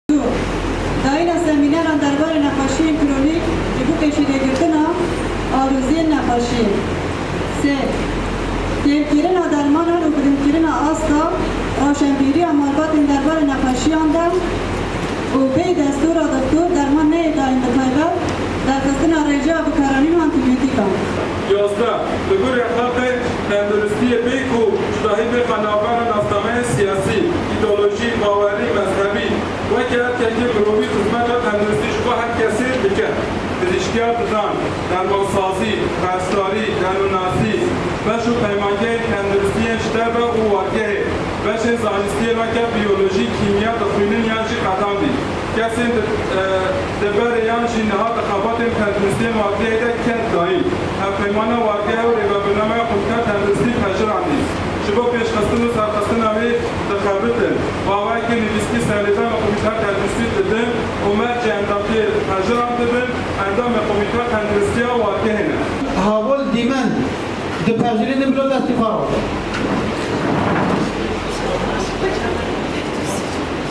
Du. Dayîna semîneran derbarê nexweşiyên kronîk ji bo pêşîvêgirtina aloziyên nexweşî. Sê. Kêrkirina dermanan û bilindkirina asta rewşenbîriya malbatên derbarê nexweşiyan de û bêyî destora doktor derman neyê dayîn bi taybet derxistina rêjeya bikaranîn û antîbiyotîkan. Yazdeh, Li gor rexate tenduristiyê bê ku cudahî bixe navbera nasnameyên siyasî, îdeolojî, bawerî, mezhebî. Weke erkekê mirovî xizmeta tenduristî ji bo her kesê dike. Pizîşkiya didan, dermansazî, perstdarî, derûnnasî, beş û peymangehên tenduristî yên ji derve û wargehê, beşên zanistiyê weke biyolojî, kîmya, dixwînin yan jî qedandî. Kesên di. Deverê yan jî niha di xebatên tenduristiyên adliyeyê de ket dayîn. Hevpeymana Wargeha û Rêvebirnameya Xwendker Tenduristî Pejir Endîz ji bo pêşxistin û serxistina wî dixebitin. Bawayekî nivîskî serlêdan li Komîteya Tenduristî didin û mercê endamtiye Pejir an dibin, endamê Komîteya Tenduristiya Wargehê ne. Havol dîmen di Pejirê din bilo destî xwe rexwe.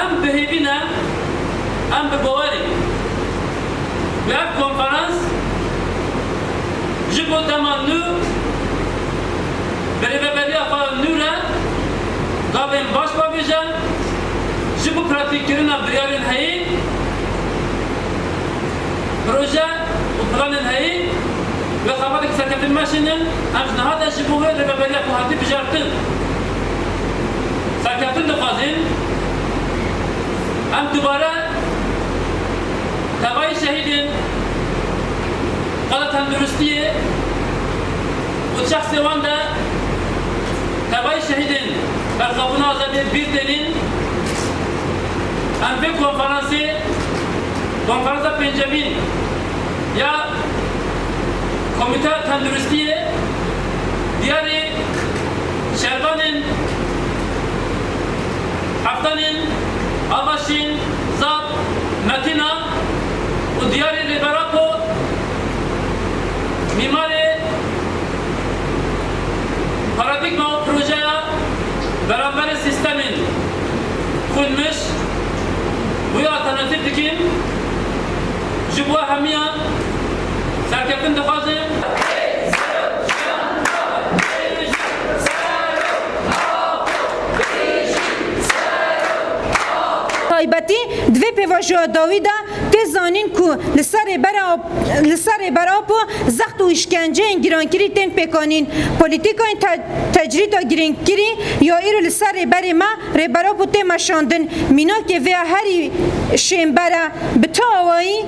Em bi hêvî ne, em bi bawerê ne. Bi ev konferans ji bo dema nû bi rêveberiya xwe nû re gavên baş bavêje, ji bo pratikîkirina biryarên heyî, proje û planên heyî wê xebateke serkevtî bimeşînin, em ji niha de ji bo wê rêveberiya ku hatî bijartin, Serkeftin dixwazin em dubare tevayî şehîdên xwe de tenduristiyê û şexsê wan de tevayî şehîdên berxwebûna azadiyê bîr tênîn. Em vê konferansê konferansa pêncemîn ya Komîteya Tenduristiyê diyarê. Şervanên, Heftanên, Avaşîn, Zap, Metina û Diyarê li Berako mîmarê paradîgma û projeya beramberê sîstemên xwînmiş wê alternatîf dikîn, ji bo hemiyan serkeftin dixwazin. taybetî di vê pêvajoya dawî de tê zanîn ku li ser li ser Rêber Apo zext û îşkenceyên gîrankirî tên pêkanîn. Polîtîkayên tecrîda girîngkirî ya îro li ser Rêberê me Rêber Apo tê meşandin. Mînakê vê ya herî şênber e. Bi tu awayî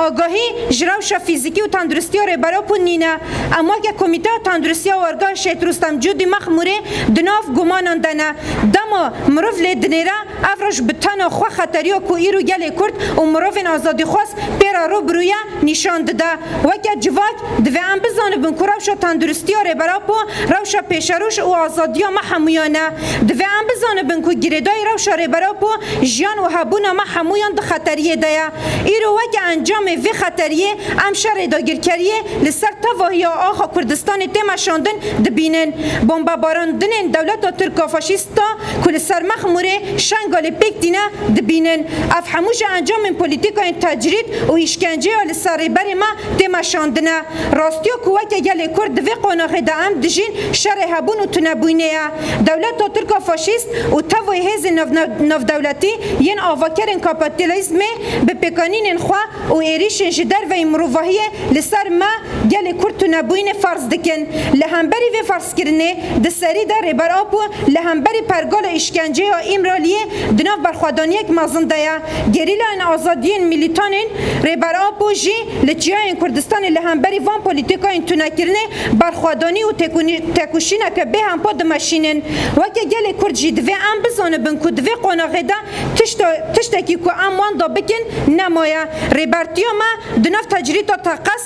Agahî ji rewşa fîzîkî û tenduristiya Rêbera Ku Nîne em weke Komîteya Tenduristiya Wergehê Şehîd Rustem Cûdî Mexmûrê di nav gumanan de ne. Dema mirov lê dinêre ev roj bi tena xwe xeteriya ku îro gelê Kurd û mirovên azadîxwaz pê re rû bi rû ye nîşan dide. Weke civak Divê em bizanibin ku rewşa tenduristiya Rêber Apo rewşa pêşerûş û azadiya me hemûyan e. Divê em bizanibin ku girêdayî rewşa Rêber Apo jiyan û hebûna me hemûyan di xeteriyê de ye. Îro weke encamê vê xeteriyê em şerê dagirkeriyê li ser tevahiya axa Kurdistanê tê meşandin dibînin. Bombebarandinên dewleta tirka faşîst, Sta ku li ser Mexmûrê Şengalê pêk tîne dibînin. Ev hemû ji encamên polîtîkayên tecrîd û îşkenceya li ser Rêberê me tê meşandin e. Rastiya ku weke gelê Kurd di vê qonaxê de em dijîn şerê hebûn û tunebûnê ye. Dewleta Tirka faşîst û tevayê hêzên navnavdewletî yên avakerên kapitîlîzmê bi pêkanînên xwe û êrîşên ji derveyî mirovahiyê li ser me gelê Kurd tunebûnê ferz dikin. Li hemberî vê Kirinê, di serî de Rêber Apo li hemberî pergala îşkenceya Îmraliyê di nav berxwedaniyek mezin de ye. Gerîlayên azadiyên mîlîtan ên Rêber Apo jî li çiyayên Kurdistanê li hemberî van polîtîkayên tunekirinê berxwedanî û têkoşîneke bêhempa dimeşînin. Weke gelê Kurd jî divê em bizanibin ku di vê qonaxê de tiştekî ku em wenda bikin nemaye. Rêbertiya me di nav tecrîta teqez,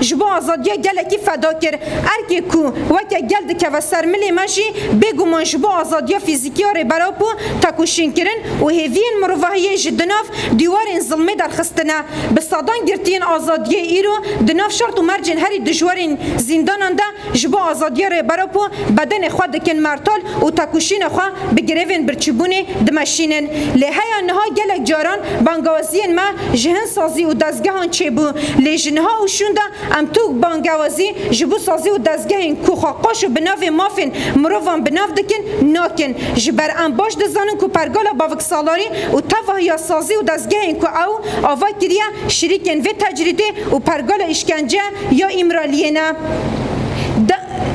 Ji bo azadiya gelekî feda kir. Erkê ku weke gel dikeve ser milê me jî bêguman ji bo azadiya fîzîkî ya Rêbera Po tekoşîn kirin û hêviyên mirovahiyê ji di nav dîwarên zilmê derxistine. Bi sedan girtiyên azadiyê îro di nav şert û mercên herî dijwarên zîndanan de Ji bo azadiyê Rêberok û bedenê xwe dikin mertol û tekuşînê xwe bi grevên birçîbûnê dimeşînin. Lê heya niha gelek caran bangewaziyên me ji hin sazî û dezgehan çêbû. Lê ji niha û şûnde em tûk bangewazî ji bo sazî û dezgehên ku xwe qaş û bi navê mafên mirovan bi nav dikin nakin. Ji ber em baş dizanin ku pergala Baviksalarî û tevahiya sazî û dezgehên ku ew ava kiriye şirîkên vê tecrîdê û pergala îşkence Ya Îmraliyê ne.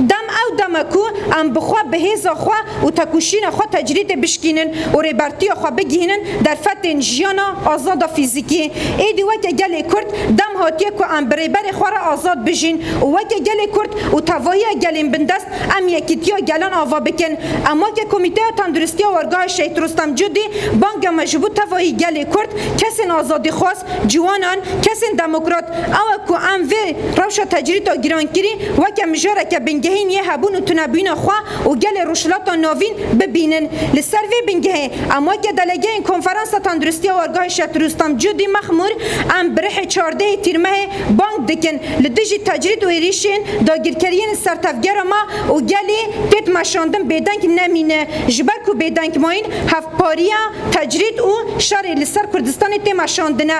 Dem ew dem e ku em bi xwe, bi hêza xwe û têkoşîna xwe tecrîdê bişkînin û rêbertiya xwe bigihînin derfetên jiyana azad a fîzîkî. Êdî weke gelê Kurd dem hatiye ku em bi rêberê xwe re azad bijîn û weke gelê Kurd û tevahiya gelên bindest em yekîtiya gelan ava bikin. Em weke Komîteya Tenduristiya Orgahê Şehîd Rostem Cûdî bang e me ji bo tevahî gelê Kurd, kesên azadîxwaz, Ciwanan, kesên demokrat, awe ku em vê rewşa tecrîta girankirî weke mijareke bingehîn yê hebûn û tunebûyîna xwe û gelê Rojhilata Navîn bibînin. Li ser vê bingehê, em weke delegeyên Konferansa Tenduristî ya Orgahê Şet Rûstem Cudî Mexmûr em bi rihê çardehê Tîrmehê bang dikin li dijî tecrît û êrîşên dagîrkeriyên li ser tevgera me û gelê têt meşandin bêdeng nemîne ji ber ku bêdengmayîn hevpariya Tecrîd û şerê li ser Kurdistanê têma şandine.